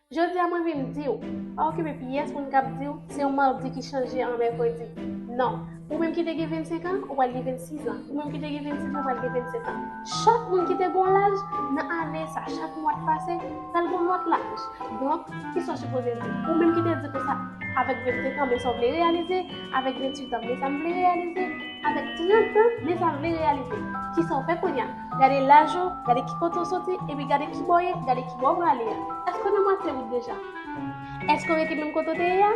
Jodi a mwen vin di w, pa okipe pyès moun k ap di w se yon madi ki chanje an mèkredi. Non, ou menm ki te gen 25 an, ou pral gen 26 an. Ou menm ki te gen 26 an, ou pral gen 27 an. Chak moun ki te gen yon laj nan ane sa, chak mwa k pase, pral gen yon lòt laj. Donk, ki sa w sipoze di? Ou menm ki te di konsa, avèk 25 an, men sa w vle reyalize, avèk 28 an, men sa m vle reyalize, avèk 30 an, men sa m vle reyalize. Ki sa w fè kounye a? Gade laj ou, gade ki kote ou soti, epi gade ki bò w ye, gade ki bò ou prale a. Èske w nan mwatye wout deja? Èske w rete menm kote w te ye a?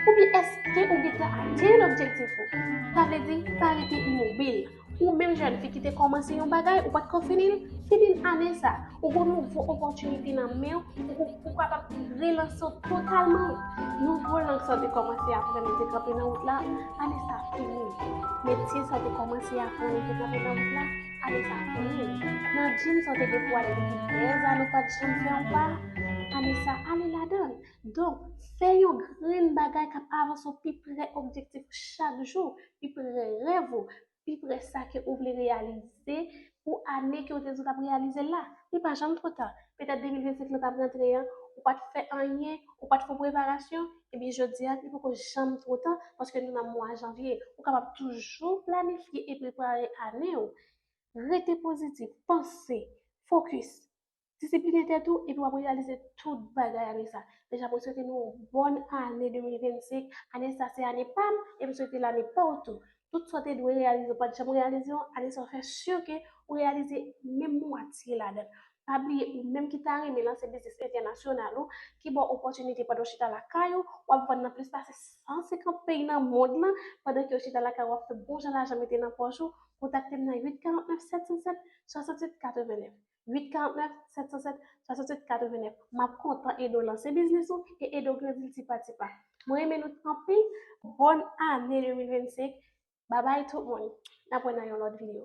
Oubyen èske ou gentan atenn objektif ou? Sa vle di, pa rete imobil. Ou menm jèn fi ki te kòmanse yon bagay, ou pa t ko fini l, fini l ane sa a. Ou gon nouvo opòtinite nan men w, ou kapab relanse w totalman. Nouvo lang sa w te kòmanse aprann ou te kanpe nan wout la, ane sa fini. Metye sa w te kòmanse aprann ou te kanpe nan wout la, ane sa fini. Nan jim sa w te gen pou ale depi dèz ane ou pa t janm fè yon pa, ane sa ale ladan l. Donk, fè yon grenn bagay k ap avanse w pi pre objektif ou chak jou, pi pre rèv ou, pi prè sa ke ou vle reyalize pou ane ke ou te di ou t ap reyalize l la. Li pa janm twò ta. Petèt 2025 lan t ap rantre an, ou pa t fè anyen, ou pa t fon preparasyon, ebyen jodi a li poko janm twò ta paske nou nan mwa janvye. Ou kapab toujou planifye e prepare ane ou. Rete pozitif, panse, fokis, Disiplinen tèt ou epi wap reyalize tout bagay ane sa. Deja mwen swete nou yon bòn ane 2025, ane sa se ane pam e m swete l ane paw tou. Tout sa w te dwe reyalize ou pat janm reyalize yo, ane sa w fè sur ke ou reyalize menm mwatye ladan. Pa bliye ou menm ki ta renmen lanse biznis entènasyonal ou, ki ba w opòtinite pandan w chita lakay ou, wap vann nan plis pase 150 peyi nan mond lan pandan ke w chita lakay ou wap fè bon jan lajan mete nan pòch ou, kontakte m nan 8 49 707 67 89. 849 707 67 89 map kontan ede w lanse biznis ou e ede w grandi l ti pa ti pa mwen renmen nou anpil bòn ane 2025 babay tout moun nap wè nan yon lòt video.